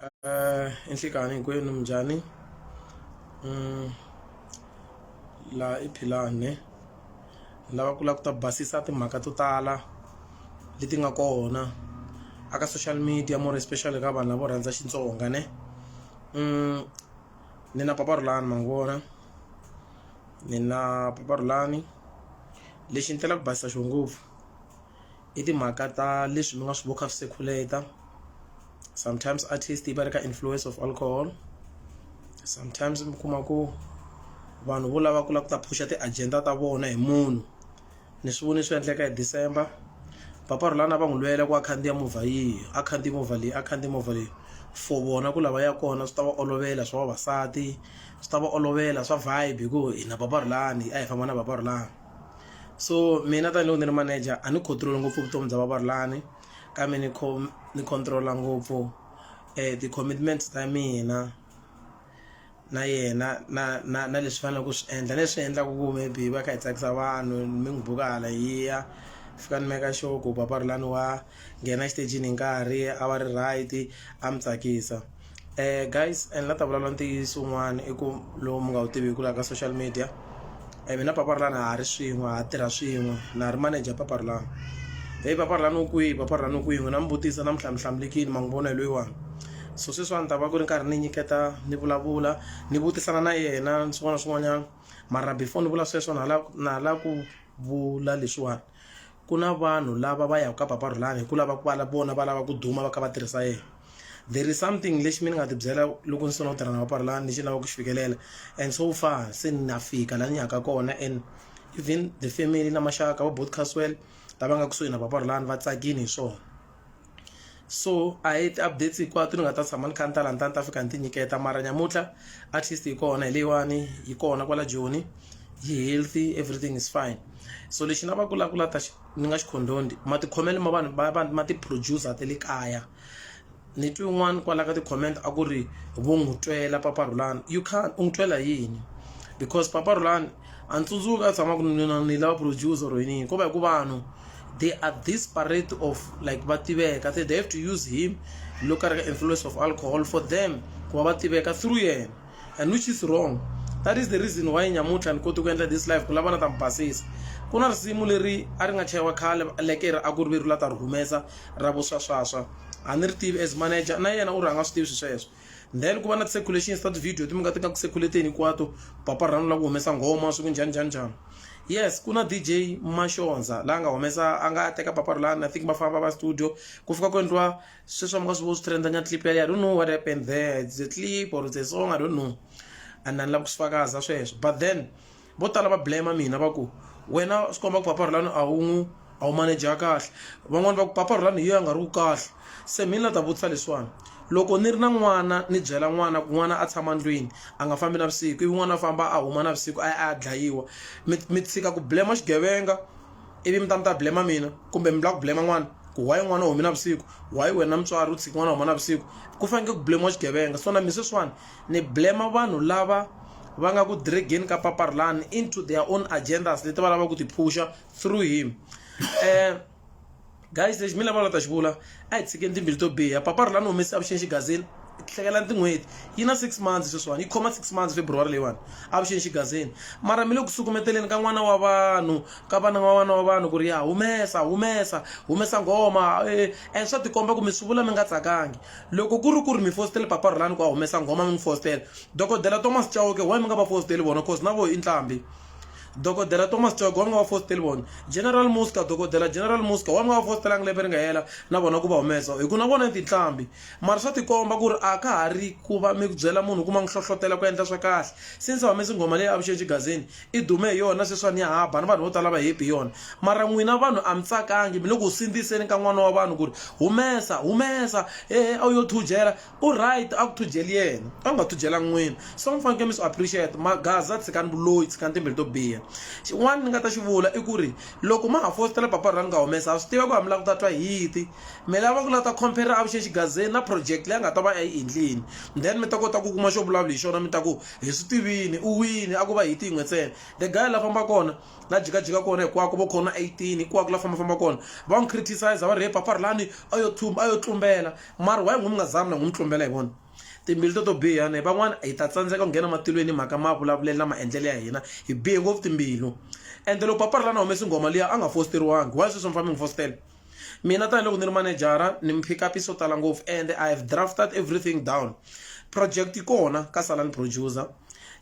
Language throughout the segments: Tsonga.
Eh, inhlikani hinkwenu minjhani mm, laha i philani ni lava ku lava ku ta basisa timhaka to tala leti nga kona aka social media more especially ka vanhu lavo rhandza xitsonga ne mm, ni na paparulani ma vona ni na paparulani lexi ni telaka ku basisa xo ngopfu i timhaka ta leswi mi nga swi vukha swisekhuleta sometimes artist yi va ri ka influence of alcohol sometimes mi kuma ku vanhu vo lava ku lava ku ta phusha ti-agenda ta vona hi munhu ni swi voni swi endleka hi december papa rhulana va n'wi lwela ku a khandziya movha yihi a khandziya movha leyi a khandziya movha leyi for vona ku lava ya kona swi ta va olovela swa vavasati swi ta va olovela swa vibe hi ku hina papa rhulani a hi famba na papa rhulani. so mina tanihiloko ni ri manager a ni control ngopfu vutomi bya vavarulani kambe ni ni control-a ngopfu um ti-commitments ta mina na yena na na na leswi faneleke ku swi endla leswi endlaka ku maybe va kha hi tsakisa vanhu mi n'wi buka hala hi ya fika ni meka sure ku vavarulani wa nghena exitejini hi nkarhi a va ri right a mi tsakisa. eh guys and la ta vulavula ntiyiso un'wana i ku lowu mi nga wu tiviki laha ka social media um mina paparilani ha ri swin'we ha tirha swin'we na ha ri manager paparilani heyi paparilani u kwihi paparilani u kwihi n'wina mi vutisa na mi hlamhlamulekile ma n'wi vona hi loyiwani so sweswiwani ta va ku ri nkarhi ni nyiketa ni vulavula ni vutisana na yena ni swin'wana na swin'wanyana mara before ni vula sweswo na ha lava na ha lava ku vula leswiwani ku na vanhu lava va yaka ka papa Rhulani hi ku lava ku va vona va lava ku duma va kha va tirhisa yena there is something lexi mi ni nga ti byela loko ni sungula ku tirha na papa Rhulani lexi ni lavaka ku xi fikelela and so far se ni na fika laha ni yaka kona and even the family na maxaka va Both Caswell lava nga kusuhi na papa Rhulani va tsakile hi swona. so a hi ti-updates hinkwato ni nga ta tshama ni kha ni ta la ni ta ni ta fika ni ti nyiketa mara nyamuntlha at least hi kona hi leyiwani hi kona kwala joni yi healthy everything is fine so lexi na va kulakula ta ni nga xi condoned matikhomelo ma vanhu va ma ti-producer ta le kaya ni twi un'wana kwala ka ti-comment a ku ri vo n'wi twela papa Rhulani you can't u n'wi twela yini because papa Rhulani. a ni tsundzuki a tshama ku ni ni lava producer or yini ko va hi ku vanhu they are disparate of like va tiveka they, they have to use him loko ka ri ka influence of alcohol for them ku va va tiveka through yena and which is wrong that is the reason why nyamutlha ni koti ku endla this life ku lava na ta mi basisa ku na risimu leri a ri nga chayiwa khale lekere a ku ri veri la ta ri humesa ra vuswaswaswa a ni ri tivi as manager na yena u ri a nga swi tivi swi sweswo then ku va na ti-circulations ta ti-video leti mi nga ti nga ku circulateni hinkwato papa rhanu la ku humesa nghoma swi ku njhani njhani njhani yes ku na dj maxonza la nga humesa a nga teka papa rulani i think va famba va studio ku fika ku endliwa sweswi mi nga swi vo swi trendanya clip yaleyo i don't know what happened there it's a clip or it's a song i don't know and ni lava ku swi fakaza sweswo but then vo tala va blame mina va ku wena swi komba ku papa rhulani a wu n'wi a wu maneja kahle van'wani va ku papa rhulani hi yo a nga ri ku kahle se mina na ta vutisa leswiwani loko ni ri na n'wana ni byela n'wana ku n'wana a tshama ndlwini a nga fambi navusiku ivi n'wana a famba a huma navusiku a ya a ya dlayiwa mi mi tshika ku blame xigevenga ivi mi ta mi ta blame mina kumbe mi lava ku blame n'wana ku why n'wana u humi navusiku why wena mutswari u tshiki n'wana a huma navusiku ku fanekele ku blame xigevenga so na mina sweswiwani Ni blame vanhu lava va nga ku drageni ka Paparlan into their own agendas leti va lava ku ti phusha through him. Eh, guys lexi mi lava la ta xi vula a hi tshikeni timbili to biha papa rilani humese avuxeni xigazini hlekelani tin'hweti yi na six months sweswiwani yi khoma six months february leyiwani avuxeni xigazini mara mi le ku sukumeteleni ka n'wana wa vanhu ka vana wa n'wana wa vanhu ku ri ya humesa humesa humesa nghoma eh, and swa tikomba ku mi swi vula mi nga tsakangi Loko ku ri ku ri mi fositele Papa Rhulani ku a humesa nghoma mi n'wi fositela, Dokodela Thomas Chauke why mi nga va fositeli vona coz na voho i ntlhambi? Dokodela Thomas Chauke why mi nga va fositeli vona? General Muska, Dokodela General Muska why mi nga va fositelanga lembe ri nga hela na vona ku va humesa hi ku na vona i tintlhambi? Mara swa tikomba ku ri a ka ha ri ku va mi byela munhu ku ma n'wi hlohlotela ku endla swa kahle since a humesi nghoma leyi avuxeni xigazini, i dume hi yona sweswiwani ya haba ni vanhu vo tala va hepi hi yona mara n'wina vanhu a mi tsakangi mi le ku sindziseni ka n'wana wa vanhu ku ri humesa humesa hehe a wu yo thujela u right a ku thujeli yena a ku nga thujela n'wina so mi fanekele mi swi appreciate magaza tshikani vuloyi tshikani timbilu to biha xin'wana ni nga ta xi vula i ku ri loko ma ha fositela papa ra ni nga humesa ha swi tiva ku ha mi lava ku ta twa hiti mi lava ku lava ta compare avuxeni xigazeni na project leyi a nga ta va a yi endlini then mi ta kota ku kuma xo vulavula hi xona mi ta ku Hi swi tivini u wini a ku va hiti yin'we ntsena. The guy la famba kona la jikajika kona hikwako vo khoma 18 hikwako la famba famba kona va n'wi criticize va ri he Phaparhelani a yo thumba a yo tlumbela mara why n'wi mi nga zami na n'wi mi tlumbela hi vona timbilu to to biha ne van'wana hi ta tsandzeka ku nghena matilweni hi mhaka mavulavulelo na maendlelo ya hina hi bihe ngopfu timbilu ende loko Phaparhelani a humesi nghoma liya a nga fositeriwangi why sweswi mi famba mi n'wi fositela. mina tanihiloko ni ri manejara ni mi pick up swo tala ngopfu and i have drafted everything down project yi kona ka sala ni producer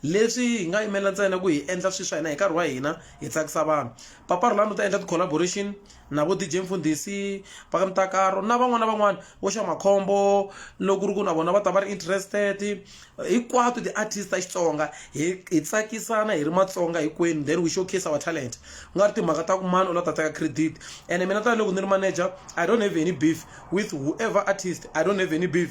leswi hi nga yimela ntsena ku hi endla swilo swa hina hi nkarhi wa hina hi tsakisa vanhu papa rulani u ta endla ti-collaboration na vo dj mfundhisi va ka mitakaro na van'wana na van'wana vo xa makhombo loko ku ri ku na vona va ta va ri interested hinkwato ti-artist ta xitsonga hi hi tsakisana hi ri matsonga hinkwenu then we showcase our talent ku nga ri timhaka ta ku mani u la ta teka credit ene mina tanihiloko ni ri manager i don't have any beef with whoever artist i don't have any beef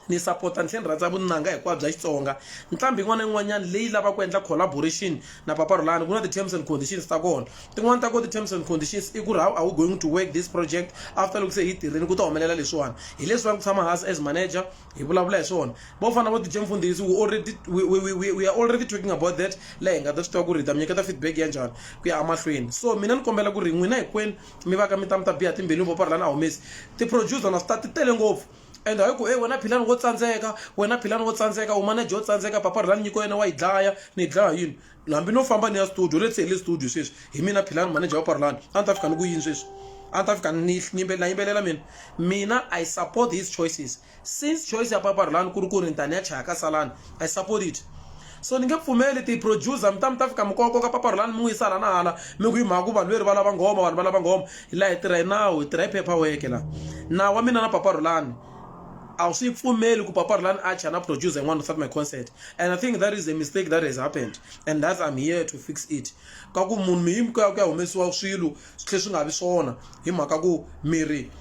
ni sapota ni tlhela ni rhandza vunanga hinkwabyo bya xitsonga nqambi yin'wana na yin'wanyana leyi lava ku endla collaboration na papa rhulani ku na ti-terms and conditions ta kona tin'wani ta kona ti-terms and conditions i ku ri how are we going to work this project after loko se hi tirhile ku ta humelela leswiwani hi leswiwani ku tshama hansi as manager hi vulavula hi swona vo fana vo dj mfundhisi we already we, we, we, we are already talking about that la hi nga ta swi tiva ku ri hi ta mi nyiketa feedback ya njhani ku ya emahlweni so mina ni kombela ku ri n'wina hinkwenu mi va ka mi ta mi ta biha timbilu vo parhalani a humesi ti-producer na swi ta ti tele ngopfu and hayi ku e wena philani wo tsandzeka wena philani wo tsandzeka u manager wo tsandzeka papa rhulani nyiko yena wa yi dlaya ni yi dlaya yini hambi no famba ni ya studio let's say hi le studio sweswi hi mina philani manager wa parlani a ni ta fika ni ku yini sweswi a ni ta fika ni yimbelela yimbelela mina mina i support his choices since choice ya paparlani ku ri ku ri ni ta ni ya chaya ka salani i support it so ni nge pfumeli ti-producer mi ta mi ta fika mikoko ka paparlani mi n'wi yisa hala na hala mi ku yi mhaka ku vanhu veri va lava nghoma vanhu va lava nghoma laha hi tirha hi nawu hi tirha hi phepha weke laha nawu wa mina na paparlani a wu swi pfumeli ku paparlani a chaya na producer yin'wana without my concert and i think that is a mistake that has happened and that i'm here to fix it ka ku munhu miyimi ku ya ku ya humesiwa swilo swi tlhe swi nga vi swona hi mhaka ku miri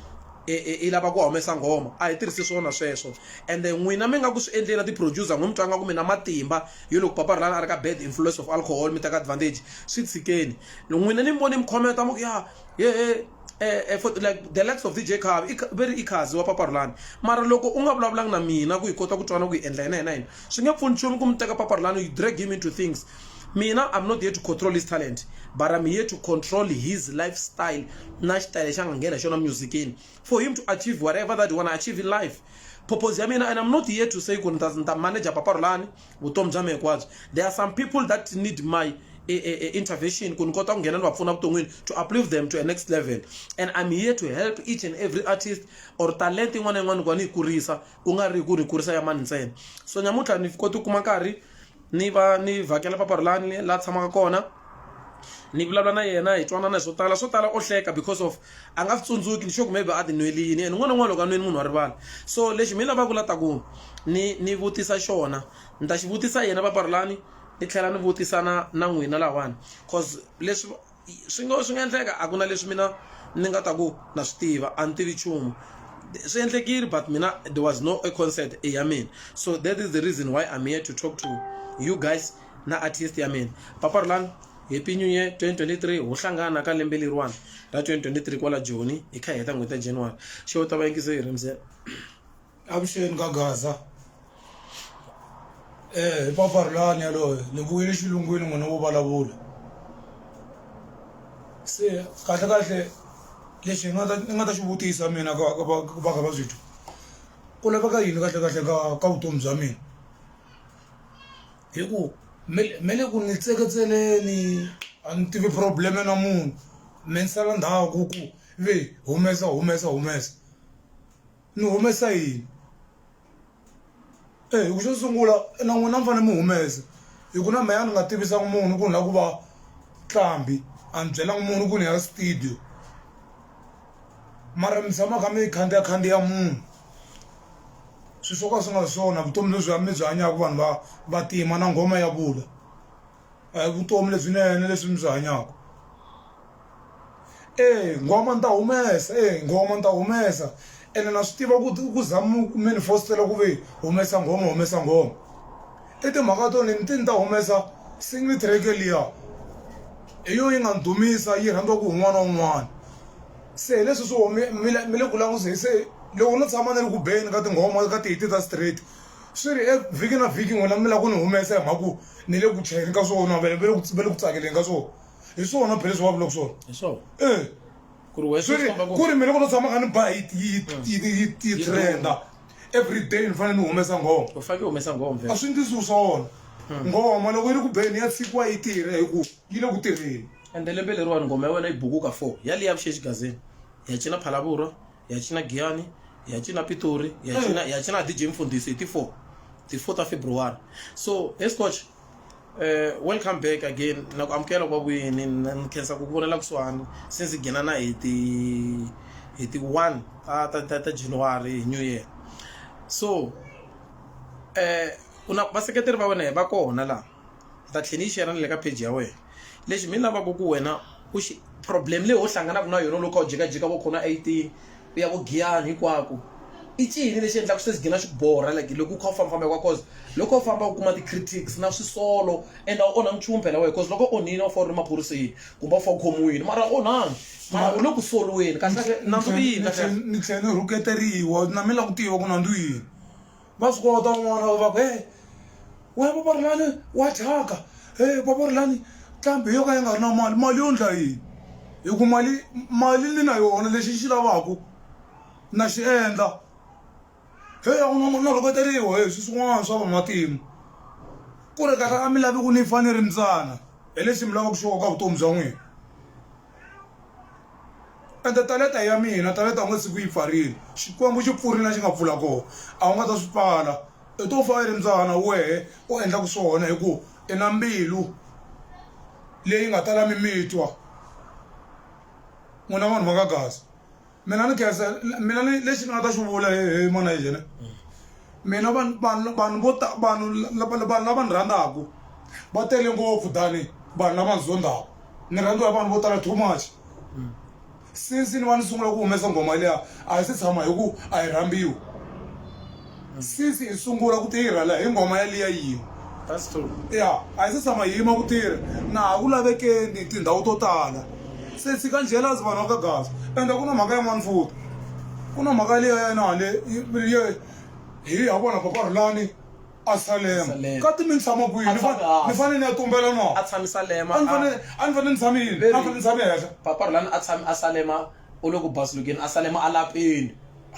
e, e, i lava ku humesa nghoma a hi tirhisi swona sweswo ende n'wina mi nga ku swi endleni na ti-producer n'wi mi twanga ku mi na matimba yo loko papa rilani a ri ka bad influence of alcohol mi teka advantage swi tshikeni n'wina ni mi voni mi khometa mu ku ya yehe eh, eh, for, like the likes of dj car ve ri ikhazi wa papa rulani mara loko u nga vulavulangi na mina ku hi kota ku twana ku hi endla yena yena yena swi nge pfuni nchumu ku mi teka papa rulani you drag him into things mina i'm not here to control his talent but i'm here to control his lifestyle na xitayele xa nga nghena xona musicini for him to achieve whatever that you wanna achieve in life purpose ya mina and i'm not here to say ku ni ta manager papa rulani vutomi bya mina hinkwabyo there are some people that need my e, e, e, intervention ku ni kota ku nghena ni va pfuna vuton'wini to uplift them to a next level and i'm here to help each and every artist or talent yin'wana na yin'wana ku va ni yi kurisa ku nga ri ku ni kurisa ya mani ntsena so nyamuntlha ni koti ku kuma nkarhi ni va ni vhakela papa rilani la tshamaka kona ni vulavula na yena hi twanana hi swo tala swo tala o hleka because of a nga swi tsundzuki ni sure maybe a ti nweli yini and n'wana n'wana loko a nweni munhu wa rivala so lexi mi lavaka la ta ku ni ni vutisa xona ni ta xi vutisa yena vaparulani ni tlhela ni vutisa na na n'wina lahawani cause leswi swi nga swi nga endleka a ku na leswi mina ni nga ta ku na swi tiva a ni tivi nchumu swi endlekile but mina there was no a concert ya mina so that is the reason why i'm here to talk to you guys na artist ya mina paparulani Happy New Year 2023 ho hlangana ka lembe leriwani ra 2023 kwala Joni hi kha hi heta n'hweti ya January xo ta va yingiso yi rimse avuxeni ka Gaza eh hi paparulani yaloye ni vuyile xilungwini n'wina wo vulavula se kahle kahle lexi hi nga ta ni nga ta xi vutisa mina ka ka va ka va byi ku laveka yini kahle kahle ka ka vutomi bya mina hi ku me me le ku ni tseketseleni a ni tivi problem na munhu me ni sala ndhawu ku ku ve humesa humesa humesa ni humesa yini eyi ku xo sungula na n'wina a mi fane mi humesa hi ku na me a ni nga tivisanga munhu ku ni la ku va nqambi a ni byelanga munhu ku ni ya studio. mara mi tshama kha mi khandziya khandziya munhu swi swo ka swi nga swona vutomi lebyi mi byi hanyaka vanhu va vantima na nghoma ya vula a hi vutomi lebyinene leswi mi byi hanyaka eya nghoma ni ta humesa eya nghoma ni ta humesa ene na swi tiva ku ku za mi fositela ku ve humesa nghoma humesa nghoma. I timhaka to ni ni te ni ta humesa single track liya hi yo yi nga ni dumisa yi rhandziwaku hi un'wana na un'wana se hi leswi swi wo mi mi le mi le ku languse se loko no tshama ni ri ku beni ka tinghoma ka tihiti ta straight swi ri e vhiki na vhiki n'wina mi la ku ni humesa hi mhaka ku ni le ku chayeni ka swona va le va le ku va le ku tsakeleni ka swona hi swona phela leswi va vulaka swona hi swona e ku ri wena swi ri ku ri mina loko no tshama kha ni ba yi yi yi yi yi trenda. every day ni fanele ni humesa nghoma u fanele u humesa nghoma a swi ndzi swona hmm. nghoma loko yi ri ku beni ya tshikiwa yi tirha hi ku yi le ku tirheni ende lembe leriwani nghoma ya wena yi bukuka four ya leyi ya vuxexi gazini ya cina phalavurwa ya cina giyani ya cina pitori ya hmm. cina ya cina dj mfundhisi hi ti-four ti-four ta february so escotch Uh, welcome back again na ku amukela kwa vuyini ni khensa ku vonela kusuhani since gina na hi ti hi ti one ta ta ta ta january hi new year so um ku na vaseketeri va wena va kona laha hi ta tlhela yi xera ni le ka page ya wena lexi mi lavaka ku wena u xi problem leyi ho hlanganaka na yona loko u jikajika vo khona eighteen U ya vo Giyani hinkwaku. I cini lexi endlaku swi gina swi ku borha like loko u kha u famba famba hinkwaku cause loko u famba u kuma ti critics na swisolo and a wu onhangi nchumu phela wehe cause loko u onhini a wu fanele u ri maphoriseni kumbe a wu fanele u khomiwini mara a wu onhangi mara u le ku soliweni kahle kahle nandzu i yini kahle kahle ni tlhela ni rhuketeriwa na mina ni lava ku tiva ku nandzu i yini. va fika va ta un'wana va va ku e we vavorelani wa thyaka e vavorelani ntlhambi yo ka yi nga ri na mali mali yo ndla yini hi ku mali mali ni na yona lexi xi lavaku na xi endla he a ku na mali na rhuketeriwa he swi swin'wana swa van'watimu ku ri kahle a mi lavi ku ni fa ni ri mbyana hi lexi mi lavaku xoho ka vutomi bya n'wina. ende taleta ya mina taleta u nga tshiki u yi pfarile xikwembu xi pfurile la xi nga pfula kona a wu nga ta swi pfala i to fa i ri mbyana wehe u endlaka swona hi ku i na mbilu leyi nga tala mimitwa n'wina vanhu va ka gaza. mina ni khensa mina ni lexi ni nga ta xi vula hi mona hi yena mina vanhu vanhu vanhu vo ta vanhu vanhu lava ni rhandzaka va tele ngopfu tani vanhu lava ni zondzaka ni rhandziwa vanhu vo tala too much since ni va ni sungula ku humesa nghoma liya a hi se tshama hi ku a yi rhambiwi Since hi sungula ku tirha la hi nghoma ya liya yin'we. That's true. Ya, a hi se tshama hi yima ku tirha. Na ha ku lavekeni tindhawu to tala. Se tshika jealous vanhu va ka Gaza. Ende ku na mhaka yin'wana futhi. Ku na mhaka liya ya na le ye hi ya vona Papa Rhulani a Salema. Salema. Ka timintlhama kwihi? A Ni tshame fa- hansi. ni fanele ni ya tumbela na. A tshami Salema, A ni a- fanele a ni fanele ni tshame yini? A ni fanele ni tshame henhla. Papa Rhulani a tshami a Salema u le ku basulukeni a Salema a lapeni.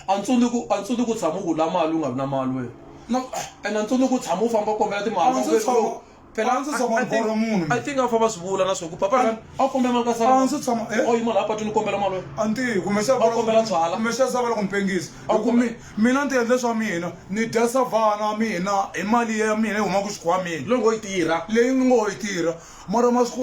a ntsuni ku a ntsuni ku tshama ku la mali u nga vi na mali wena no and a ntsuni ku tshama u famba u kombela timali phela ndzi tshama mboro munhu i think a famba swi vula na swo ku papa rani a kombela mali ka sala ndzi tshama eh oyi mali a patwini kombela mali wena a ntiyi kumbe xa va kombela tswala kumbe xa sava loko mpengisi a ku mi mina ndzi endle swa mina ni dya savana mina hi mali ya mina yi huma ku xikhwamini loko yi tirha leyi ni ngo yi tirha mara masiku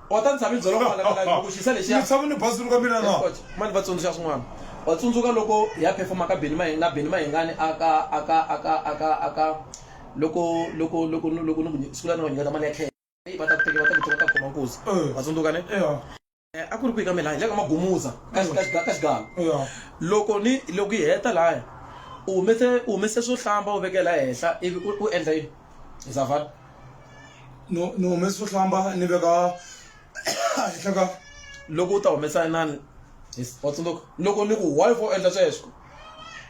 Kota ndzi tshame ndzi dzolonga mhaka live loko xisa lexiya. Ndzi tshame ni bazi ka mina na. Mani va tsundzuxa swin'wana. Wa tsundzuka loko hi ya performa ka Benny Maheng na Benny Mahengani aka aka aka aka aka loko loko loko loko ni ku siku la ni va nyiketa mali ya cash. Hey va ta ku teka va ta ku teka va ta khoma nkuzi. Wa tsundzuka ne? A ku ri kwihi ka mina laya hi le ka Magumuza ka ka ka xigava. Loko ni loko hi heta laya u humese u humese swo hlamba u vekela laha henhla ivi u endla yini? izafat ni humesi vuhlamba ni veka henhla ka loko u ta humesa inani wa tsundzuka loko ni ku why for endla sweswo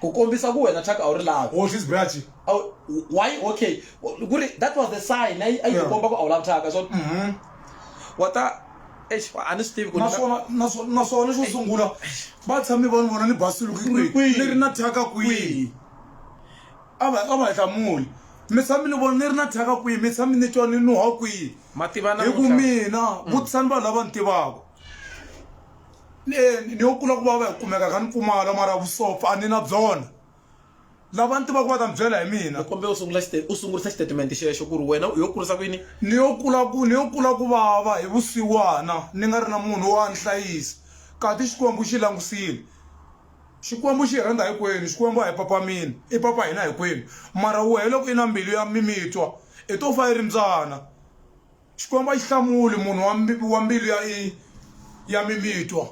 ku kombisa ku wena chaka a wu ri lavi hoxa izibirachi why okay ku ri that was the sign a yi a yi ku komba ku a wu lavi chaka so mhm. wa ta eish a ni swi tivi ku naswona naswona naswona xo sungula va tshame va ni vona ni basiluki kwihi ni ri na thyaka kwihi a va a va hlamuli mi tshami ni vona ni ri na thyaka kwihi mi tshami ni twa ni nuha kwihi Ma tiva na hi ku vutisa- mina vutisani vanhu lava ni tivaka ni eh, ni yo kula ku vava hi kumeka ka ni pfumala mara vusopfa a ni na byona lava ni tivaka va ta ni byela hi mina ni kombela u sungula xite- u sungurisa xitatimende xexo ku ri wena u yo kurisa ku yini ni yo kula ku ni yo kula ku vava hi vusiwana ni nga ri na munhu wa ni hlayisa kati xikwembu xi langusile Xikwembu xi hi rhandza hikwenu, Xikwembu a hi papa mina, i papa hina hikwenu. Mara wehe loko i na mbilu ya mimitwa, i to fa i ri mbyana. Xikwembu a xi hlamuli munhu wa wa mbilu ya ya mimitwa.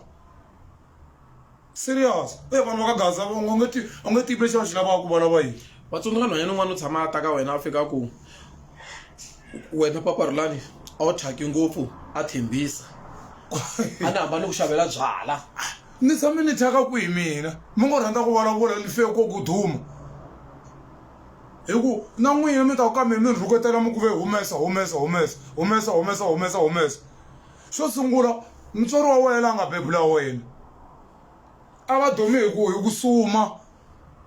Serious. E vanhu va ka Gaza va nga u nge ti u nge tivi lexi va xi lavaka va lava yini. Wa tsundzuka nhwanyana un'wana u tshama a ta ka wena a fika a ku, wena papa Rhulani a wu thyaki ngopfu a tshembisa a ni hamba ni ku xavela byala. Ni tshame ni thyaka kwihi mina mi ngo rhandza ku vulavula ni fe ko ku duma hi ku na n'wina mi ta ku ka mina mi ni rhuketela mi ku ve humesa humesa humesa humesa humesa humesa humesa xo sungula mutswari wa wena la nga bebula wena a va dumi hi ku hi ku suma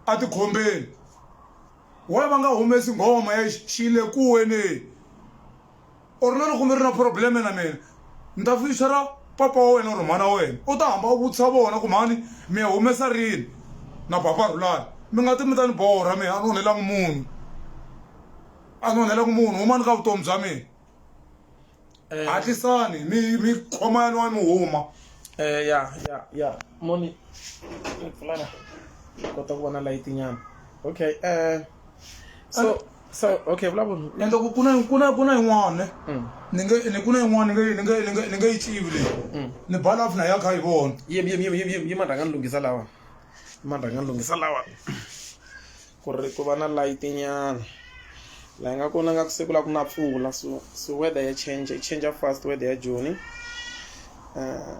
a tikhombeni why va nga humesi nghoma ya xi xi le kuweni. or na loko mi ri na probleme na mina ni ta fixera papa wa wena or mhana wa wena u ta hamba u vutisa vona ku mhani mi ya humesa rini na papa rhulani mi nga ti mi ta ni borha mina a ni onhelangi munhu a ni onhelangi munhu humani ka vutomi bya mina eh. hatlisani mi mi khoma ya niwa mi huma eh, ya ya ya moni pfulana kota ku vona layitinyana okay um so so okay vulavula and loko ku na ku na ku na yin'wana Mm. ni nge ni ku na yin'wana ni nge ni nge ni nge ni nge yi tivi leyi Mm. ni bala off na ya kha yi vona yim yim yim yim yim yima rhanga ni lunghisa lawa yima rhanga ni lunghisa lawa ku ri ku va na light nyana laha nga kona nga ku siku la ku na pfula so so weather ya change yi change fast weather ya joni uh,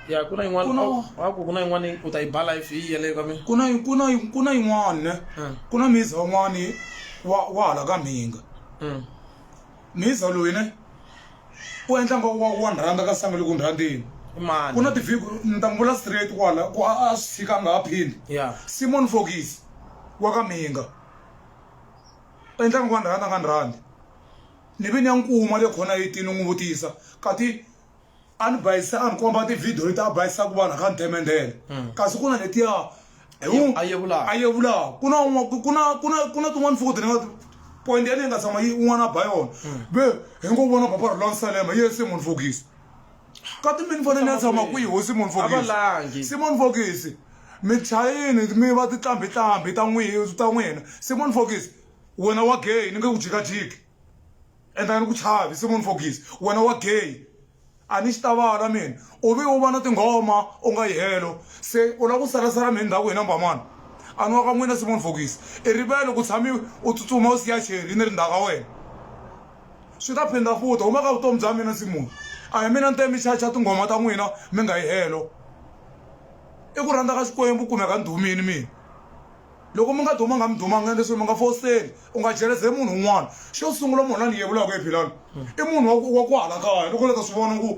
ya ku na yin'wana Ku na- oh, wa ku ku na yin'wana u ta yi ba life yi yeleyo ka mina ku na ku na ku na yin'wana ne Mm. ku na miza un'wana wa wa hala ka mhinga Mm. miza loyi ne u endla nga wa wa ni rhandza ka sangu loko ni rhandzini i mani ku na tivhiku ni ta n'wi vula straight kwala ku a a swi tshika a nga ha phindi ya simon fokisi wa ka mhinga u endla nga wa ni rhandza a nga ni rhandzi ni ve ni ya n'wi kuma le khona etini n'wi vutisa kati a ni bayisa a ni komba tivhidiyo leti a bayisaka vanhu ka ni themendela hmm. kasi ku na letiya a yevulaka ku na tin'wana fukuti ni nga point ya leyi nga tshama yi un'wana a ba yona hmm. ve hi ngo vona papa rulani salema yi ye simon fokisi ka timini fane ni ya tshama kwihi ho simon fokisi simon fokisi michayini mi va titlambitlambi ta n'wina simon fokisi wena wa gay ni nge ku jikajiki and a ni ku chavi se munhu fogisi wena wa gay a ni xi ta vala mina u ve u va na tinghoma u nga yi helo se u lava ku salasala mina ndhaku hina mbamana a ni wa ka n'wina simon fokisi i rivele ku tshami u tsutsuma u siya cheri ni ri ndhawu ka wena swi ta phinda futa huma ka vutomi bya mina simon a hi mina ni te mi xaxa tinghoma ta n'wina mi nga yi helo i ku rhandza ka xikwembu kumeka ndhumini mina Loko mi nga dumanga mi dumanga leswi mi nga fositeli u nga jeleze munhu un'wana xo sungula munhu la ni yevulaka hi philani i munhu wa ku wa ku hala kaya loko la ta swi vona ku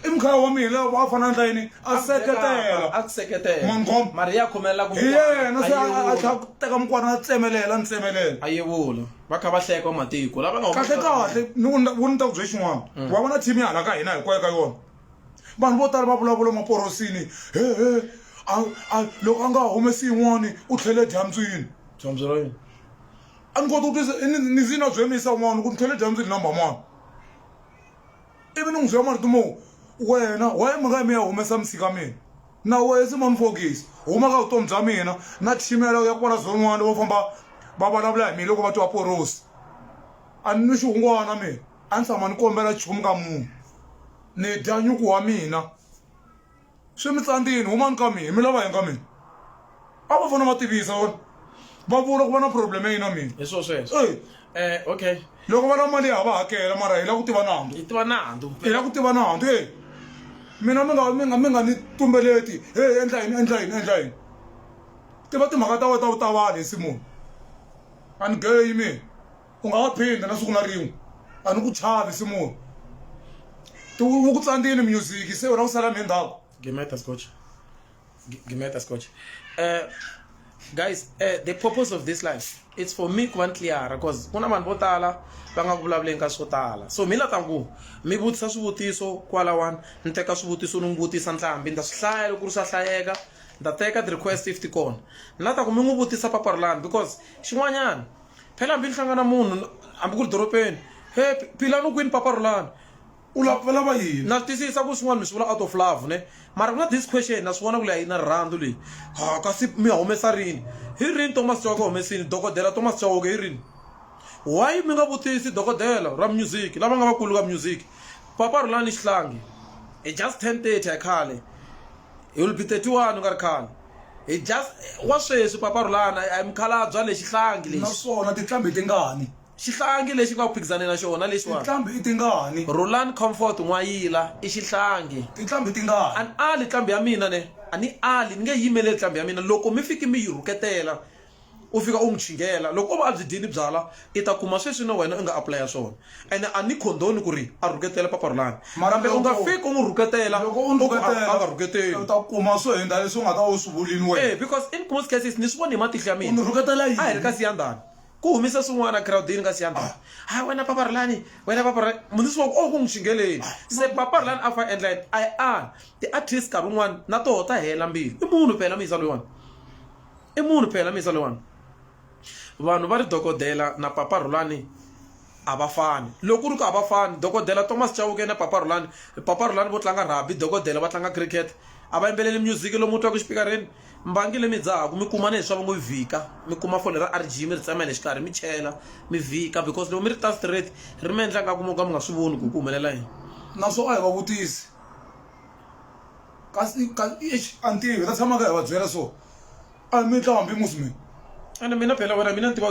i mkhaya wa mina la a fana ndla yini a seketela a ku seketela mangoma mari ya khomelela ku hi yena se a tlha ku teka mukwana a tsemelela ni tsemelela a yevula va kha va hleka matiko lava nga kahle kahle ni ku ni ta ku bye xin'wana wa vona team ya hala ka hina hinkwayo ka yona vanhu vo tala va vulavula maporosini he he loko a nga humesi yin'wani u tlhele dyambyini dyamby ra yini a ni koti ku twisa ni zi na byi yimisa un'wana ku ni tlhele dyambyini number mani ivi ni n'wi byela marito mo wena waye mi nga yi mi ya humesa misika mina na wehe se ma ni fokisi huma ka vutomi bya mina na tshimela u ya kwala zon'wana vo famba va vulavula hi mina loko va twa porosi a ni nwi xihungwana mina a ni tshama ni kombela nchumu ka munhu ni dya nyuku wa mina swi mi tsandzini humani ka mina mi lava yini ka mina a va fana va tivisa va vula ku va na problem ya yina mina hi swo sweswo Eh, eh okay loko va lava mali ya ha va hakela mara hi lava ku tiva nandzu hi tiva nandzu hi lava ku tiva nandzu e mina mi nga mi nga mi nga ni tumbeleti he endla yini endla yini endla yini tiva timhaka ta wena ta vutavali hi simoni a ni geyi mina u nga wa phinda na siku na rin'we a ni ku chavi se munhu ti wu ku tsandzini music se wena u sala mi endzhaku Gemeta Scotch. G- Gemeta Scotch. Uh, guys, uh, the purpose of this life, it's for me kuva ntliara cause kuna vanhu vo tala va nga ku vulavuleni ka swo tala so mi la ta ku mi vutisa swivutiso kwalawani ni teka swivutiso ni n'wi vutisa ntlhambi ni ta swi hlaya loko ku ri swa hlayeka ni ta teka ti-request if ti kona ni la ta ku mi n'wi vutisa paparulani because xin'wanyana phela hambi ni hlangana munhu hambi ku ri doropeni he philani u kwini papa rhulani u lava yini na swi twisisa ku swin'wana mi swi vula out of love ne mara ku na this question na swi vona ku leyi na rirhandzu leyi ha kasi mi humesa rini hi rini thomas chauke humesini dokodela thomas chauke hi rini why mi nga vutisi dokodela ra music lava nga vakulu ka music papa rhulani xihlangi hi just ten thirty a khale he will be thirty one u nga ri khale Hi dya wa sweswi Papa Rhulana a hi mukhalabya lexi hlangi lexi. Naswona tinqambi ti ngani? Xihlangi lexi nga ku phikizane na xona lexiwani. Tinqambi i tingani? Rhulani Comfort N'wayila i xihlangi. Tinqambi ti ngani? A ni ali nqambi ya mina ne. A ni ali ni nge yimeleli nqambi ya mina loko mi fiki mi yi rhuketela. u fika u n'wi chingela loko o va a byi dyini byala i ta kuma sweswi na wena u nga apulaya swona ene a ni khondoni ku ri a rhuketela paparulani kambe u nga fiki u n'wi rhuketela loko u n'wi rhuketela a nga rhuketeli u ta kuma swo hundza leswi u nga ta u swi vulini wena eh, because in most cases ni swi voni hi matihlo ya mina u n'wi rhuketela yini a hi ri ka siyandhani ku humisa swin'wana crowdini ka siyandhani ah. hayi wena paparulani wena paparulani munisi wa ku o oh, ku n'wi xingeleni ah. se paparulani a fa endla yini i a ti-artist nkarhi wun'wana na toho ta hela mbilu i munhu phela muyisa loyiwani i munhu phela mi zalewani vanhu va ri dokodela na papa rhulani a va fani loko ku ri ku a va fani dokodela thomas chauke na papa rhulani papa rhulani vo tlanga rugby dokodela va tlanga cricket a va yimbeleli music lomu twaku xipikareni mbangi leyi mi dzahaku mi kuma ni leswaku ngo yi vhika mi kuma fole ra rg mi ri tsemela xikarhi mi chela mi vhika because loko mi ri ta straight ri mi endla nga ku mo ka mi nga swi voni ku ku humelela yini naswona a hi va vutisi kasi kasi eish a ni tivi hi ta tshama ka hi va byela so a mi tla hambi musi mina ende mina phela wena mina ni tiva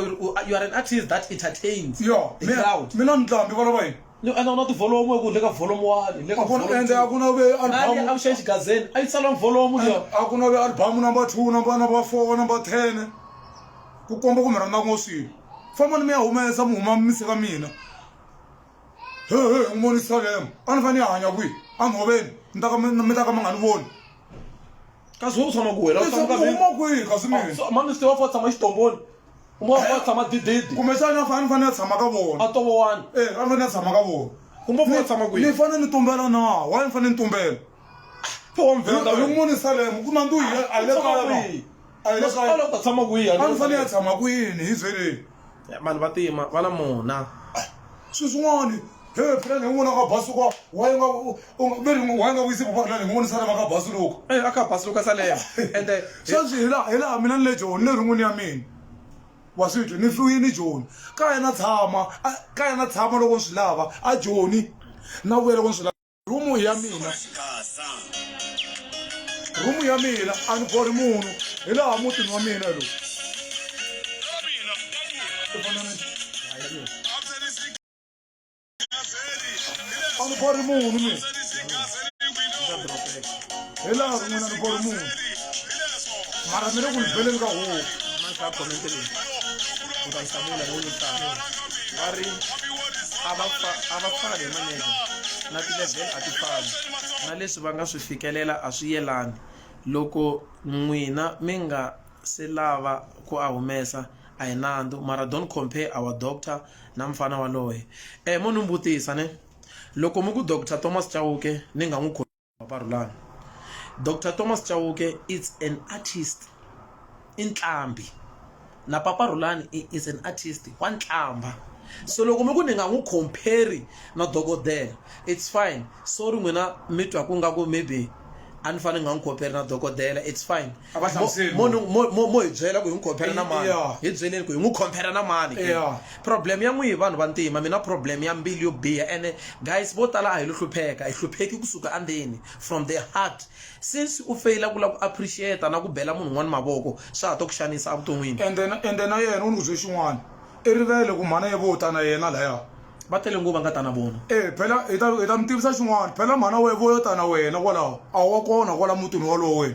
you are an artist that entertains yo the crowd mina ni tla hambi valava yini ni enda u na tivolomu eku le ka volomu wani le ka ende a ku na ve albamu a ku xexi gazeni a yi tsalanga volomu leyo a ku na ve albamu number two number number four number ten ku komba ku mi rhandza ngo swilo famba ni mi ya humesa mi huma mi se ka mina he he n'wi vonisa lemo a ni fanele a hanya kwihi a ni hoveni mi ta ka mi ta ka mi nga ni voni kasi wo tshama ku wena uma kwihi kasi mamiste wa fa tshama xitomboni uma wa fa tshama dididi kumbexani a fane ni fanele a tshama ka vona a tovowani e a ni fanele a tshama ka vona ni fanele ni tumbela na wa ni fanele ni tumbela Poem venda Yo- yo wena. munisa le mi kuma ndu yena a le Tshama kaya na kwihi? a le Masipala u kaya ta tshama kwihi a ni fanele a tshama kwini hi byeleni vanhu va tima va na mona swilo swin'wana he phela ni n'wana ka basu kwa wa nga ve ni wa nga vuyisi papa phela ni n'wana sala ka basu loko Eh, a ka basi luka salema ende sweswi hi laha hi laha mina ni le joni le rin'wini ya mina wa swi twi ni hluyini joni ka yena tshama a- ka yena tshama loko ni swi lava a joni na vuya loko ni swi lava rumu ya mina rumu ya mina a ni bori munhu hi laha mutini wa mina lowu a ni bori munhu mina hi laha ku n'wina ni bolo munhu mara mi le ku lubeleni ka huku va ri a va fani hi maneza na tilevel a ti fani na leswi va nga swi fikelela a swi yelani loko n'wina mi nga se lava ku a humesa a hi nandzu mara don't compare our doctor na mfana waloye um mo ni n'wi vutisa ne loko mi ku doctor thomas chauke ni nga n'wi Maparulani. Doctor Thomas Chauke it's an artist i nqambi na Papa Rhulani is an artist wa nqambha so loko mi ku ni nga n'wi compare na dokodela it's fine sorry n'wina mi twa ku nga ku maybe a ni fanele ni nga n'wi compare na dokodela it's fine a va hlamuseli mo mo- mo- mo- mo hi byela ku hi n'wi khompera na mani Yeah. hi byeleni ku hi n'wi khompera na mani ke? Yeah. problem ya n'wihi vanhu va ntima mina problem ya mbilu yo biha ene guys vo tala a hi lo hlupheka hi hlupheki kusuka andzeni from the heart since u feyila ku lava ku appreciata na ku bela munhu un'wana mavoko swa ha to ku xanisa evuton'wini ende na- ende na yena u ni ku bye xin'wana i rivele ku mhana ye vo ta na yena laya va tele nguva nga ta na vona e phela hi ta hi ta mi tivisa xin'wana phela mhana we vo yo ta na wena kwalaho a wa kona kwala mutini walowo wena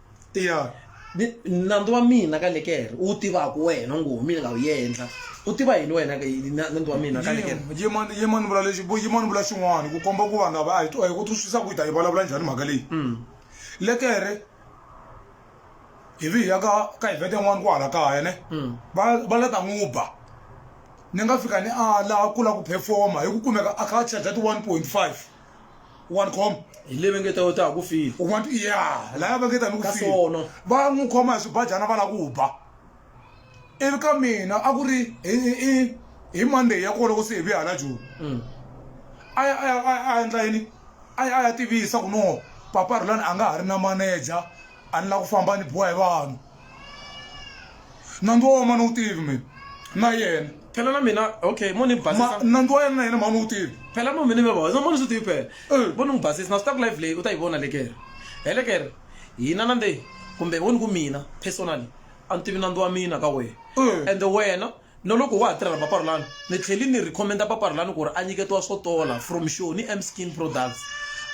ya Ni- nandzu wa mina ka lekere u wu tivaka wena ngo mina nga wu yendla u tiva yini wena ka yini na- nandzu wa mina ka lekere yimani yimani vula lexi vu- yimani vula xin'wana ku komba ku vanhu lava a hi twa hi ku twisisa ku hi ta yi vulavula njhani mhaka leyi Mm. lekere hi vi hi ya ka ka evhete yin'wana kwahala kaya ne Mm. va va la ta n'wi ba ni nga fika ni ala ku la ku performa hi ku kumeka a kha a charge ti 1.5 wa ni khoma hi le vengeta yo ta ku file u want ya laya vengeta ni ku file va n'wi khoma hi swibajana va la ku ba ivi ka mina a ku ri hi hi monday ya kona loko se hi vuya hala joni mm. a ya a ya a ya endla yini a ya a ya tivisa ku no papa rulani a nga ha ri na manager a ni la ku famba ni biwa hi vanhu nandzu wa wena ma ni wu tivi mina na yena phela na mina okay mo ni mi basisa nandzu wa yena na yena ma ni wu tivi phela mo mina mi basisa mo ni swi tivi phela eh. mo ni n'wi basisa na swi ta ku live leyi u ta yi vona lekere helekere hina na nde kumbe wo ni ku mina personally a ni tivi nandzu wa mina ka wena eh. ende wena Na loko wa ha tirhela Paparhulani, ni tlhele ni rhekhomenda Paparhulani ku ri a nyiketiwa swo tola From Show ni Amp Skin Products.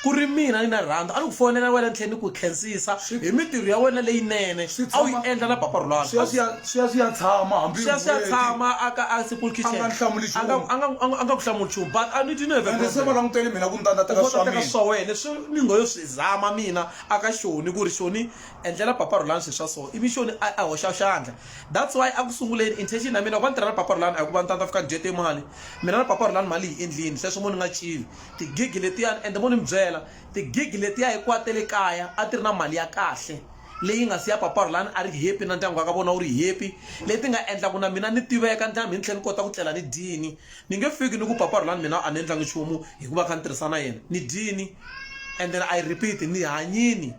Ku ri mina ni na rhandzu, a ni ku fonela wena ni tlhela ni ku khensisa hi mitirho ya wena leyinene a wu yi endla na Paparhulani. Swi ya swi ya swi ya swi ya tshama hambi Swi ya swi ya n'hweti. tshama a ka a Simple Kitchen. A nga ni hlamuli nchumu. A nga a nga a nga a nga ku hlamuli nchumu but a ni didn't have a Ende se va problem. langutele mina ku ni ta ni ta teka swa mina. swa wena leswi ni ngo yo swi zama mina a ka Shoni ku ri Shoni endlela Paparhulani swilo swa so ivi Shoni a a hoxa xandla. That's why a ku sunguleni intention ya mina loko a ni tirha na Papa Rhulani a hi ku va ni ta ni ta fika ni dye timali mina na Papa Rhulani mali hi endlini sweswo mo ni nga cini ti-gig letiyani ende mo ni mi byela ti-gig letiya hinkwato ta le kaya a ti ri na mali ya kahle leyi nga siya Papa Rhulani a ri happy na ndyangu wa ka vona wu ri happy leti nga endla ku na mina ni tiveka ni tlhela ni tlhela ni kota ku tlela ni dyini ni nge fiki ni ku Papa Rhulani mina a ni endlangi nchumu hikuva kha ni tirhisa na yena ni dyini and then I repeat ni hanyini.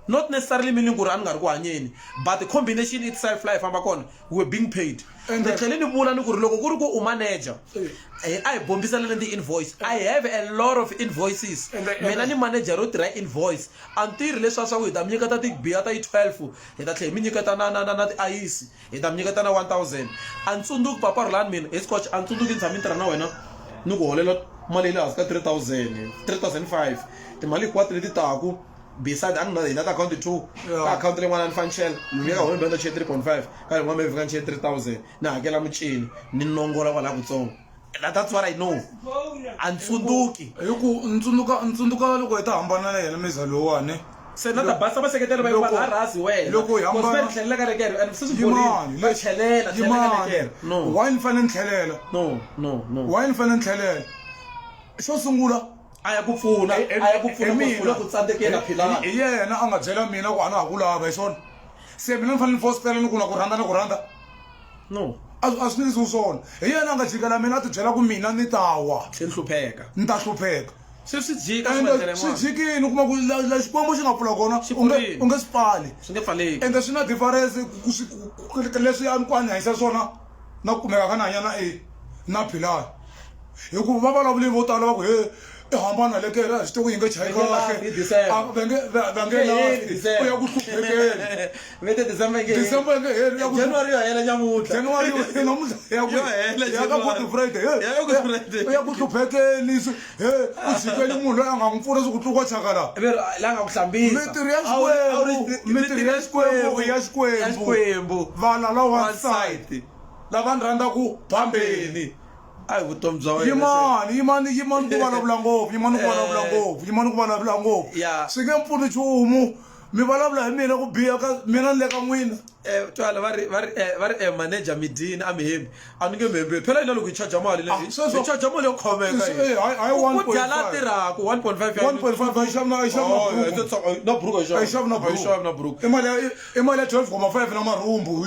not necessarily meaning ku ri a ni nga ri ku hanyeni but the combination itself laha hi famba kona we're being paid ni tlhele ni vula ni ku ri loko ku ri ku u manager eh, a hi bombiseleni ti-invoice i have a lot of invoices mina ni manager ro tirha invoice a ni tirhi leswiya swa ku hi ta mi nyiketa tibiya ta yi-twelve hi ta tlhela hi mi nyiketa na na na na tiayisi hi ta mi nyiketa na 1000 a ni tsundzuki papa rhulani mina hi scotch a ni tsundzuki ni tshame ni tirha na wena ni ku holela mali ya le hansi ka 3000 3005 timali hinkwato leti taku beside a ni na hina ta akhawunti two ka akhawunti leyin'wana a ni fanixela mi ya ka home benda chiye 3.5 ka leyin'wana mi vhika ni chiye 3000 ni hakela mucini ni nongola kwalaha kutsongo na that's what i know a ni tsundzuki hi ku ntsundzuka ntsundzuka loko hi ta hambana na yena miza lowani se na ta basa vaseketeri va va nga rhasi wena loko hi hambana ni tlhelela ka lekere and sisi yimani va tlhelela yimani no why ni fanele ni tlhelela no no no why ni fanele ni tlhelela xo sungula a ya ku pfuna a ya ku pfuna ku pfuna ku tsandzekela philana hi yena a nga byela mina ku a na ha ku lava hi swona se mina ni fanele ni fositela ni ku na ku rhandza na ku rhandza no a a swi ndzi swona hi yena a nga jikela mina a ti byela ku mina ni ta wa se ni hlupheka ni ta hlupheka se swi jika swi endlele ende swi n'wana jikini u kuma ku la- la xikwembu xi nga pfula kona Xi u nge pfurile. u nge swi pfali swi nge pfaleki ende swi na difference ku- ku swi- ku- ku- ku- leswi a ni ku a ni hanyisa swona na ku kumeka ka ni hanya na e na philani hikuva va vulavuli vo tala va ku he i hambana le kere a swi tivi ku yi nge chayi kahleu ya ku hluphekelijanuary ya ku hluphekeli he ku jikeli munhu loyi a nga n'wi pfuna swi ku tluka chakalamitiri ya xikwembu ya xikwembu valala wansati lava ni rhandzaku phambeni a hi vutomi bya wena yimani yimani yimani ku vulavula ngopfu yimani ku vulavula eh. ngopfu yimani ku vulavula ngopfu swi nge mpfuni nchumu mi vulavula hi mina ku biha ka mina ni le ka n'wina eh, twala va ri va ri eh, va ri eh, manager midini a mi hembi a ni nge mi hembi phela yina loko hi charger mali leyi ah, sweswo charger mali yo khoveka ku dya la tirhaka 1.5 na buruku i mali ya 12 koma 5 na marhumbu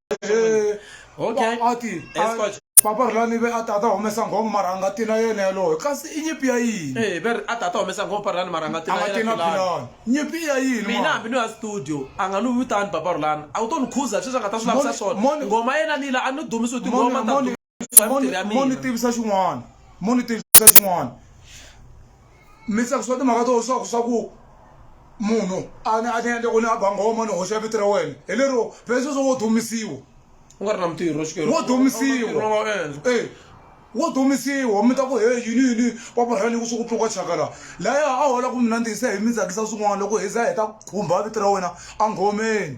eh, okay. a ti papa ri lani ve a tata humesa nghomo mara a nga ti na yena yaloyo kasi i nyipi ya yini e ve a tata humesa nghomo papa ri lani mara a nga ti na yena philani nyipi ya yini mina hambi ni ya studio a nga ni vitani papa ri lani a wu to ni khuza sweswi a nga ta swi lavisisa swona ngoma yena lila a ni dumisi u tingoma mo ni tivisa xin'wana mo ni tivisa xin'wana mi tsakisiwa timhaka to swa swa ku munhu a ni a ni endla ku ni a bangoma ni hoxa vito ra wena hi lero pesa swo wo dumisiwa u nga ri na mutirho wo dumisiwa e wo dumisiwa mi ta ku he yini yini paparhani ku swi ku pfuka chakala laya a hola ku mina ndzi se hi mi tsakisa swin'wana loko hi za hi ta khumba vito ra wena a nghomeni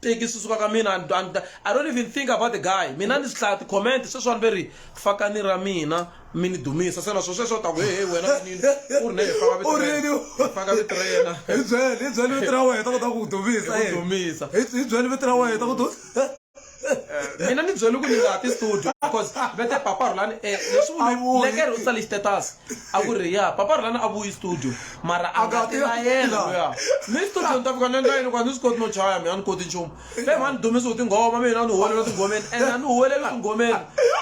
teki susuka ka mina and, and, i don't even think about the guy mina ni swi hlaya ti-comment sweswani ve ri fakani ra mina mi ni dumisa se naswo sweswo ta ku hehe wena vanini u ri ne faka vito ra yena hi byeli hi byeli vito ra wena ta kota ku ku dumisa hi dumisa hi byeli vito ra wena ta ku eh, mina ni byeli ku ni nga ti studio because vete papa rhulani um leswi vulekere u tsale xitetas a ku ri ya papa rilani a vuyi studio mara a nga ti na yena loya ni studio ni ta fika ni endla yini hikuva ni swi koti no chaya mina a ni koti nchumu se mhani ni dumisiwe tinghoma mina a ni huwelela tinghomeni and a ni huweleli tinghomeni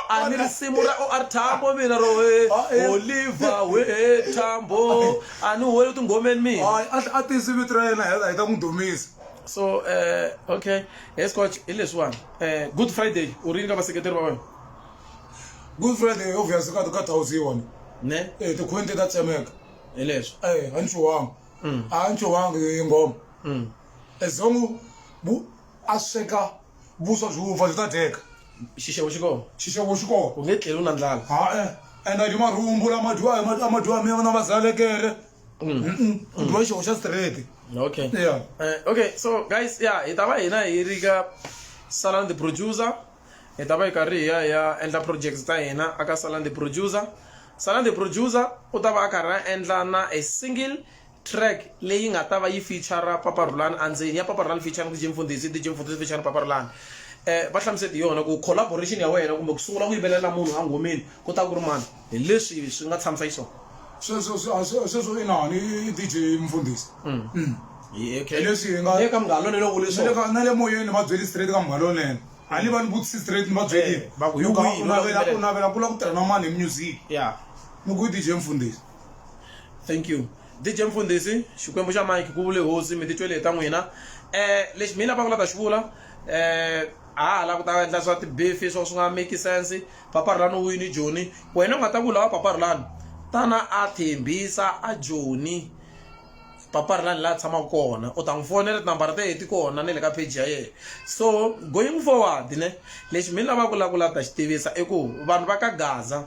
a ni risimu ra o r thambo mina ro he oliva we thambo a ni huweleli tinghomeni mina a tisi vito ra yena hi ta n'wi dumisa so um okay he scotch hi leswiwani um good friday u rini ka vaseketeri va wena good friday obvious ka ka thousand yona ne eh ti khwente ta tsemeka hi leswi eh a ni chuwanga Mm. a ni chuwanga hi ngoma Mm. ezongo bu a sweka vuswa byi wupfa byi ta dyeka xixevo xi kona xixevo xi kona u nge tleli u na ndlala ha-e enda ndi marhumbu lama dyiwa hi ma- ama dyiwa mina na vazalekere Mm-mm. ku dyiwa xixevo xa straight okay yeah Eh, okay so guys ya hi ta va hina hi ri ka salani the producer hi ta va hi karhi hi ya hi ya endla project ta hina aka salan the producer salan the producer u ta va a karhi a endla na a single track leyi nga ta va yi feature papa rulani endzeni ya papa rulani featuring dj mfundhisi dj mfundhisi featuring papa rulani um va hlamusete hi yona ku collaboration ya wena kumbe ku sungula ku yimbelela munhu a nghomeni ku ta ku ri mani Hi leswi swi nga tshamisa xiswona. Sweswo swi a swi sweswo inani i DJ mfundhisi. Hi okay. Hi leswi hi nga- Ni le ka Munghana Lonene u vule Na le swona. ka- na le moyeni ni va byeli straight ka Munghana Lonene. A ni va ni vutisi straight ni va byeli. Eh, va ku, Ni "Hi ku, wihi u loyi navela- loyi?" u navela ku la ku tirha na mani hi music. Yeah. Ni ku i DJ mfundhisi. Thank you. DJ Mfundhisi, Xikwembu xa Mike ku vule hosi mi titwele hi ta n'wina. Eh lexi mina va nga ta xi vula eh a ha ha la ku ta endla swa tibifi swo swi nga make sense. Paparilani wini Joni? Wena u nga ta ku lava paparilani? Tana a thembisa a Joni paparilani laha tshamaka kona u ta n'wi fonela tinambara ta yena ti kona na le ka page ya yena so going forward ne lexi mi lavaka ku lava ku lava ta xi tivisa i ku vanhu va ka gaza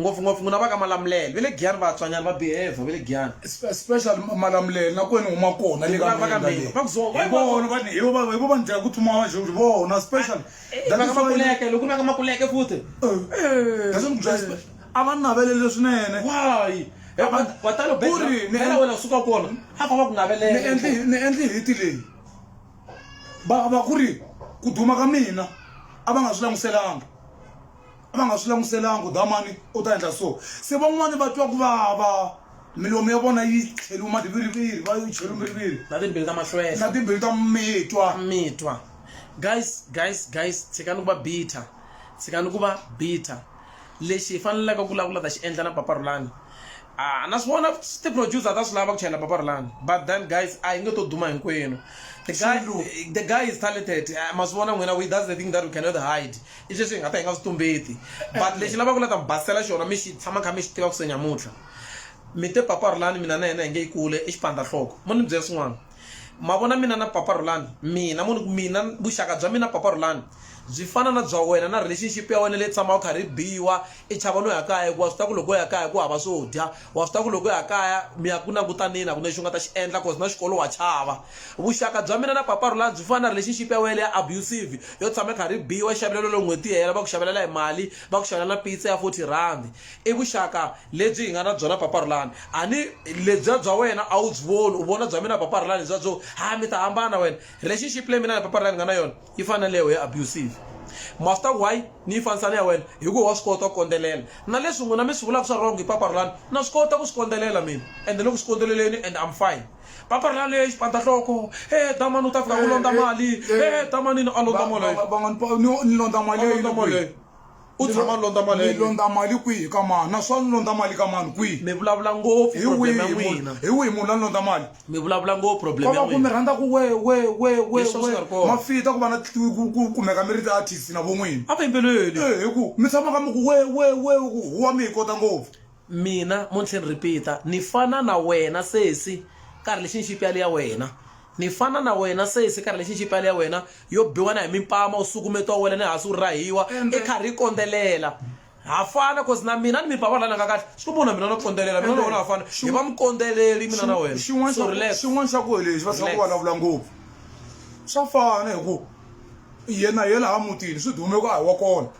ngopfungopfu n'wina va ka malamulele va le giyani vatswanyana va behave va le giyani special malamulele na kwena huma kona le ka va ka mina va ku zo va vona va ni hi vona va ndlela ku tsumiwa va joni vona special ah. Makuleke, loko na ka Makuleke futhi. Eh. Kasi mbyela eh, a va navelele swinene. Why? Eh, wa talo ku ri ni ela wena suka kona a ko va ku navelela ni endli ni endli hiti leyi va va ku ri ku duma ka mina a va nga swi languselanga va nga swi languselanga damani u ta endla so se van'wani va twa ku vava milomu ya vona yi tlheliwe madiviriviri va yi cheliwe miriviri na timbili ta mahlwela na timbili ta mitwa mitwa guys guys guys tshikani ku va bitter tshikani ku va bitter lexi hi faneleke ku vulavula ta xi endla na papa rulani Ah, na swi vona ti-producer ta swi lava ku chayela papa rulani but then guys a hi nge to duma hinkwenu the guy, Xulu. the guy is talented Ah, ma swi vona n'wina we that's the thing that we cannot hide i sweswi hi nga ta hi nga swi tumbeti but lexi lava ku la ta mi basela xona mi xi tshama kha mi xi tiva ku se nyamutlha mi te papa rhulani mina na yena hi nge yi kule i xipandzahloko mo ni byela swin'wana ma vona mina na papa rhulani mina mo ni ku mina vuxaka bya mina papa rhulani byi fana na bya wena na relationship ya wena leyi tshamaka karhi biwa i chava no ya kaya hikuva swi ta ku loko ya kaya ku hava swo dya wa swi tiva ku loko ya kaya mi ya ku langutaneni a ku na lexi u nga ta xi endla cause na xikolo wa chava vuxaka bya mina na papa rula byi fana na relationship ya wele ya abusive yo tshama kha ri biwa xavelelo lo n'hweti hela va ku xavelela hi mali va ku xavelela na pizza ya 40 rand i vuxaka lebyi hi nga na byona papa rulani a ni lebya bya wena a wu byi voni u vona bya mina papa rulani bya byo ha mi ta hambana wena relationship leyi mina na papa rulani nga na yona yi fana na leyo ya abusive master why ni yi fanisa na ya wena hi ku wa swi kota ku kondzelela na leswi n'wina mi swi vulaka swa wrong hi paparulani na swi kota ku swi kondzelela mina ende ni ku swi kondzeleleni and I'm fine paparulani leyi xipandahloko e damani u ta fika ku londza mali e damanini a londza mali van'wana ni londza mali leyi U Ni tshama lo- londza mali ya ni yena. londza mali kwihi ka mani naswona ni londza mali ka mani kwihi mi vulavula ngopfu hi problem ya wihi munhu- n'wina hi wihi munhu la ni londza mali mi vulavula ngopfu ko problem ya va ku mi n'wina rhandza ku we we we we Hi swona swi nga ri we kona. mafita ku va na ku- ku- ku kumeka mi ri ti-artist na von'wini a va yimbeleli Eh, hi ku mi tshamaka mi ku we we we ku huwa mi hi kota ngopfu Mina, mo ni tlhela ni repeat-a, ni fana na wena sesi ka ri lexi ni xipyali ya wena. Ni fana na wena sesi ka ri lexi ni xipyali ya wena, yo biwa na hi mimpama, u sukumetiwa u wela ni hansi u rahiwa, i karhi i kondzelela. Ha fana coz na mina ni mi ba vanhu lava ni nga kahle, swi komba ku na mina na kondzelela, mina na wena ha fana, hi va mukondzeleli mina na wena. Xin'wana xa ku, xin'wana xa ku hi lexi va tshama va vulavula ngopfu, swa fana hi ku yena hi yena laha mutini swi dume ku a hi wa kona.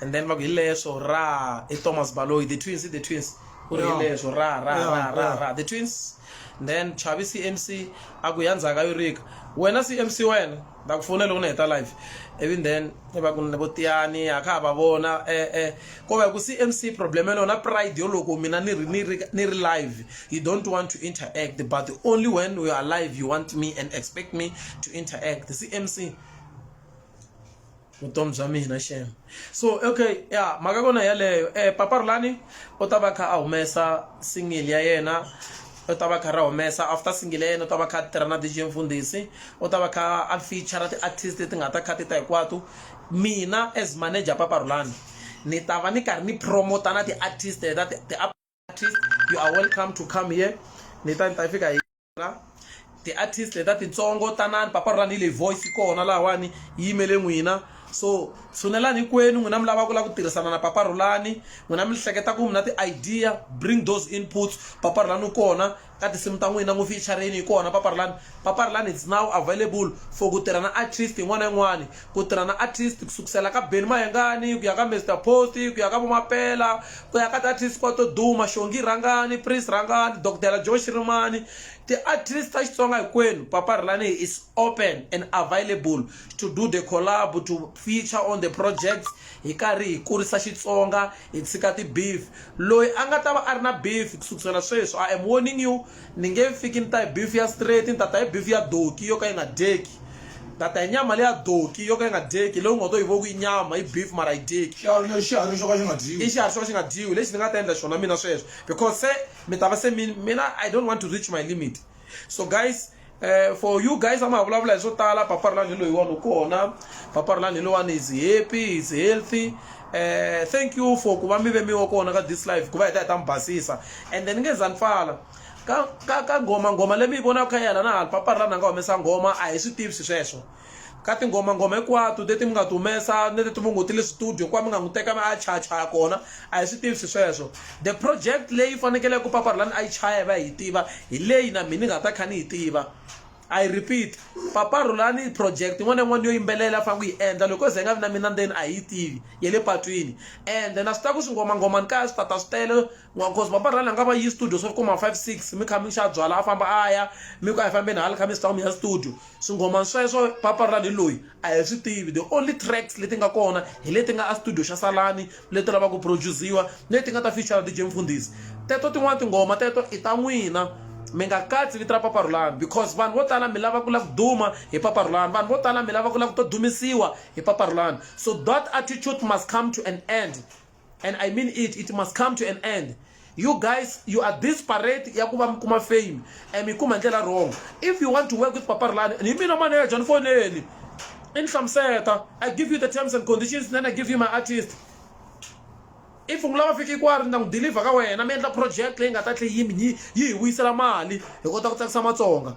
and then va ku hi leswo ra i thomas baloyi the twins i the twins ku ri hi Yeah. leswo ra ra Yeah, ra ra yeah. ra the twins then chavi cmc a ku ya ndzhaka yo rika wena cmc wena ta ku fona loko ni heta live ivi then va ku ni vo tiyani a kha ha va vona eh eh ko va hi ku cmc problem ya lona pride yo loko mina ni ri ni ri ni ri live you don't want to interact but only when we are live you want me and expect me to interact cmc vutomi bya mina xem so okay ya mhaka kona yaleyo um eh, papa rulani u ta va kha a humesa single ya yena u ta va kha ra humesa after single ya yena u ta va kha a tirha na dj mfundhisi u ta va kha a feature ti-artist leti nga ta kha ti ta hinkwato mina as manager papa rulani ni ta va ni karhi ni promota na ti-artist ta ti artist you are welcome to come here ni ta ni ta fika hi ti-artist leta titsongo tanani papa ra ni le voice kona lahawani yi yimele n'wina so tshunelani hinkwenu n'wina mi lava ku lava ku tirhisana na papa rhulani n'wina mi hleketa ku mi na ti-idea bring those inputs papa rhulani u kona ka tinsimu ta n'wina n'wi feature-rini hi kona Paparilani. Paparilani it's now available for ku tirha na artist yin'wana na yin'wana. Ku tirha na artist ku sukusela ka Benny Mayengani ku ya ka Mister Post ku ya ka vo Mapela ku ya ka ti-artist hinkwato to duma Xongi Rhangani, Prince Rhangani, Dokdela Joe Shirimani ti-artist ta Xitsonga hinkwenu Paparilani is open and available to do the collabo to feature on the projects hi karhi hi kurisa Xitsonga. Hi tshika ti beef. Loyi a nga ta va a ri na beef ku sukusela sweswi, I am warning you, ni nge fiki ni ta hi beef ya straight, ni ta ta hi beef ya doki yo ka yi nga dyeki. Ni ta ta hi nyama leya doki yo ka yi nga dyeki, leyi u nga to yi vona ku i nyama, i beef mara a yi dyeki. Xiharhi lexi, xiharhi xo ka xi nga dyiwi. I xiharhi xo ka xi nga dyiwi. Lexi ni nga ta endla xona mina sweswo because se mi ta va se mi, mina I don't want to reach my limit. so guys uh, for you guys ama vulavula hi swo tala paparlani loyiwani u kona paparlani loyiwani is happy is healthy uh, thank you for ku va mi ve mi wa kona ka this life ku va hi ta hi ta mi basisa and then nge za ni pfala ka ka ka nghoma nghoma leyi mi yi vonaka kha yena na hali paparlani a nga humesa nghoma a hi swi tivi swi sweswo ka tinghomangoma hinkwato leti mi nga ti humesa ni leti mi ngo ti le studio kuva mi nga n'wi teka mi a chayachaya kona a hi swi tivisi sweswo the project leyi fanekele ku paparilani a yi chaya yi va hi tiva hi leyi na mina ni nga ta kha ni yi tiva i repeat paparhulani project yin'wana na yin'wana yo yimbelela a fanele ku yi endla loko ze nga vi na mina ndzeni a hi yi tivi ya le patwini ende na swi tiva ku swingomangomani kaya swi tata swi tele N'wankosi papa rhani a nga va yi studio swa kuma 5 6 mi kha mi xa byala a famba a ya mi ku a hi fambeni hala kha mi sitawu mi ya studio swinghoma sweswo papa rhani loyi a hi swi tivi the only tracks leti nga kona hi leti nga a studio xa salani leti lavaka ku produce-iwa leti nga ta feature DJ Mfundhisi teto tin'wani tinghoma teto i ta n'wina mi nga katsi vito ra papa rhulani because vanhu vo tala mi lava ku lava ku duma hi papa rhulani vanhu vo tala mi lava ku lava ku to dumisiwa hi papa rhulani so that attitude must come to an end and i mean it it must come to an end you guys you are disparate ya ku va mi kuma fame and mi kuma ndlela wrong if you want to work with papa rulani ni mina manager ni foneli i ni hlamuseta i give you the terms and conditions then i give you my artist if u lava fika kwari ni ta n'wi deliver ka wena mi endla project leyi nga ta tlhe yimi yi hi vuyisela mali hi kota ku tsakisa matsonga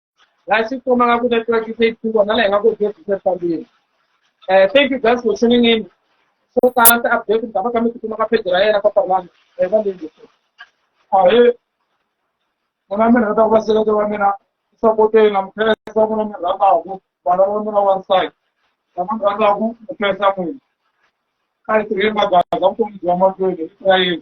Guys, if you have a good network, you say two, and I have a good business family. Uh, thank you guys for tuning in. So, talent update, and I'm going to come up with the right of one. Aye. Muna mina ta vasile ta mina sapote na mkhesa muna mina rata ku bana wa mina wa nsai. Na muna rata ku mkhesa mwe. Kai tiri magaza ku mjama kwele Israel.